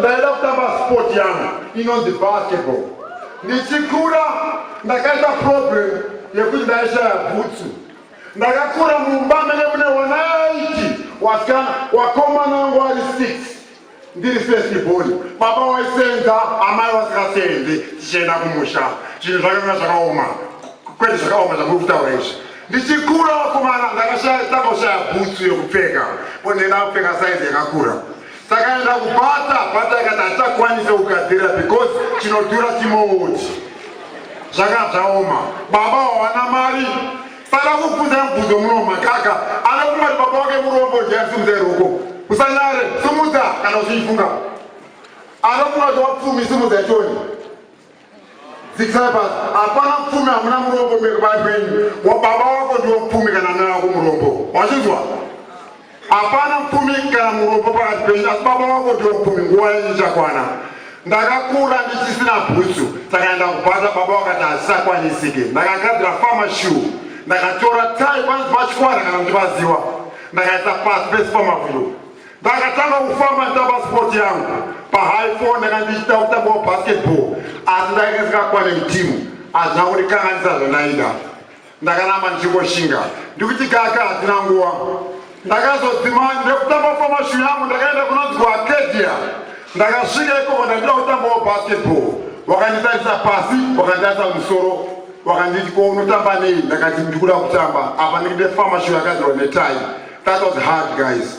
ndaida kutamba sport yangu inonzi basketball ndichikura ndakaita problem yekuti ndaishaya bhutsu ndakakura mumba mene mune wanaiti wasikana wakomana wangu ari six ndiri festiboni baba waisenza amai vasingasenzi tichienda kumusha zvinhu zvakanga zvakaoma kwete zvakaoma zvamuri kutaura izvi ndichikura vakomana ndakashayatakaoshaya bhutsu yekupfeka ponenda kupfeka saizi yakakura takaenda kubata bata ikati hatichakwanise kugadzirira because chinodhura chimouti zvakabzaoma baba hawana mari Fara kukudza mubvuzo muno makaka anokuma kuti baba wake murombo ndiyasimudza iroko usanyare simudza kana uchiifunga anokuma kuti wapfumi simudza ichoni zikisaipas hapana pfumi hamuna murombo mekubari kwenyu wababa wako ndiwo pfumi kana mai wako murombo wachinzwa Hapana mupfumi kana murombo pakati penyu, asi baba wako ndiwo mupfumi. Nguva yenyu ichakwana. Ndakakura ndichisina bhutsu, saka ndakubata baba wakati hazvichakwanisike. Ndakagadzira fama shuu, ndakatora tai panzi pachikwara kana kuti paziwa, ndakaisa pasi pesi pamavhiro. Ndakatanga kufamba nditamba spoti yangu pahigh four, ndanga ndichita kutamba wabasketball, asi ndakasika kwane mutimu hazvina kundikanganisa zvandaida. ndakanama ndichingoshinga ndikuti kaka hatina nguva ndakazodzima ndekutamba famashu yangu ndakaenda kunonzi kuacadia ndakasvika ikoko ndandida kutambawo basketball wakanditarisa pasi wakanditarisa musoro wakanditi ko unotamba nei ndakati ndikuda kutamba apa ndikide famashu yakadzirwa netai that was hard guys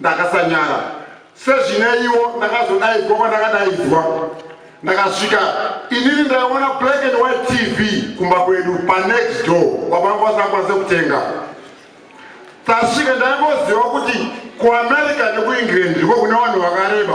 ndakasanyara sezvineiwo ndakazodaidzwa kwandakadaidzwa ndakasvika inini ndaiona black and white tv kumba kwedu panext door wavanga vasakwanise kutenga tasvika ndaingoziva kuti kuamerica nekuengland ndiko kune vanhu vakareba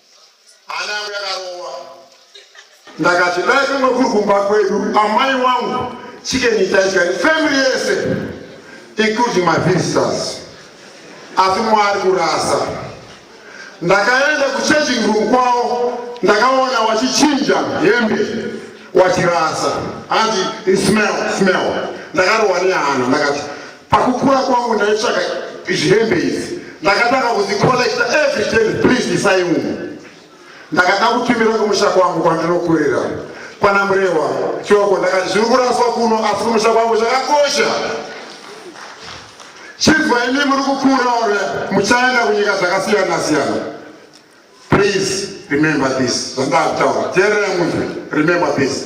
Hana yangu yakarova. Ndakati dai kumwe kuri kumba kwedu amai wangu chicken itaidya family yese including my visitors. Asi mwari kurasa. Ndakaenda kuchanging room kwavo ndakaona wachichinja hembe wachirasa hanzi smell smell ndakarohwa nehana ndakati Pakukura kwangu ndaitsvaka zvihembe idzi ndakatanga kuzikollecta every ten please isai umu ndakada kutumira kumusha kwangu kwandinokurira kwana murehwa choko ndakati zviri kuraswa kuno asi kumusha kwangu zvakakosha chibva imi muri kukura ore muchaenda kunyika dzakasiyana siyana please remember this zvandakutaura teererai munzwi remember this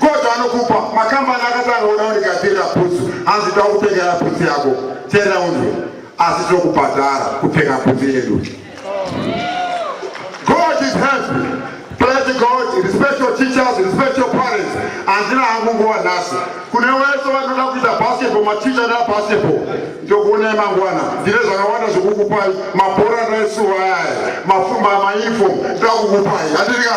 God anokupa makambani akatanga kuda kundigadzirira bhutsu hanzi toda kupfekera bhutsu yako terera unzwe asi tinokubhadhara kupfeka bhutsu yedu God is happy praise God respect your teachers respect your parents handina hangu nguva nhasi kune wese vanoda kuita basketball maticha nda basketball ndokuonai mangwana ndine zvakawanda zvekukupai mabhora ndaisuva ayaya mafumba mauniform ndakukupai handirika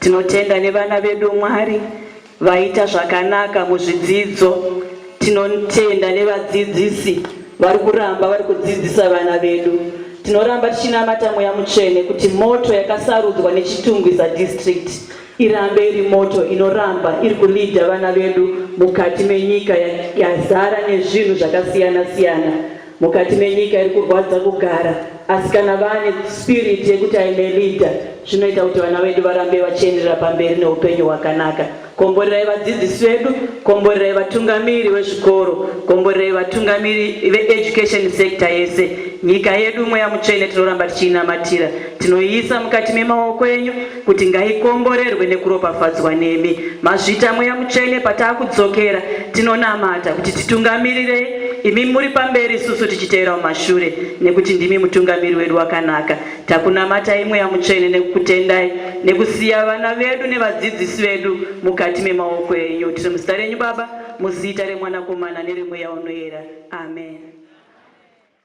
Tinotenda nevana vedu Mwari vaita zvakanaka muzvidzidzo. Tinotenda nevadzidzisi vari kuramba vari kudzidzisa vana vedu. Tinoramba tichinamata mweya mutsvene kuti moto yakasarudzwa neChitungwiza District irambe iri moto inoramba iri kulidha vana vedu mukati menyika yazara nezvinhu zvakasiyana siyana. mukati menyika iri kurwadza kugara asi kana vane spirit yekuti aime leader zvinoita kuti vana vedu varambe vachienderera pamberi neupenyu hwakanaka komborerai vadzidzisi vedu komborerai vatungamiri vezvikoro komborerai vatungamiri veeducation sector yese nyika yedu mweya mutsvene tinoramba tichiinamatira tinoiisa mukati memaoko enyu kuti ngaikomborerwe nekuropafadzwa nemi mazvita mweya mutsvene pataakudzokera tinonamata kuti titungamirirei imi muri pamberi isusu tichiteera mumashure nekuti ndimi mutungamiri wedu wakanaka takunamatai mweya mutsvene nekukutendai nekusiya vana vedu nevadzidzisi vedu mukati memaoko enyu tiri muzita renyu baba muzita remwanakomana neremweya unoyera amen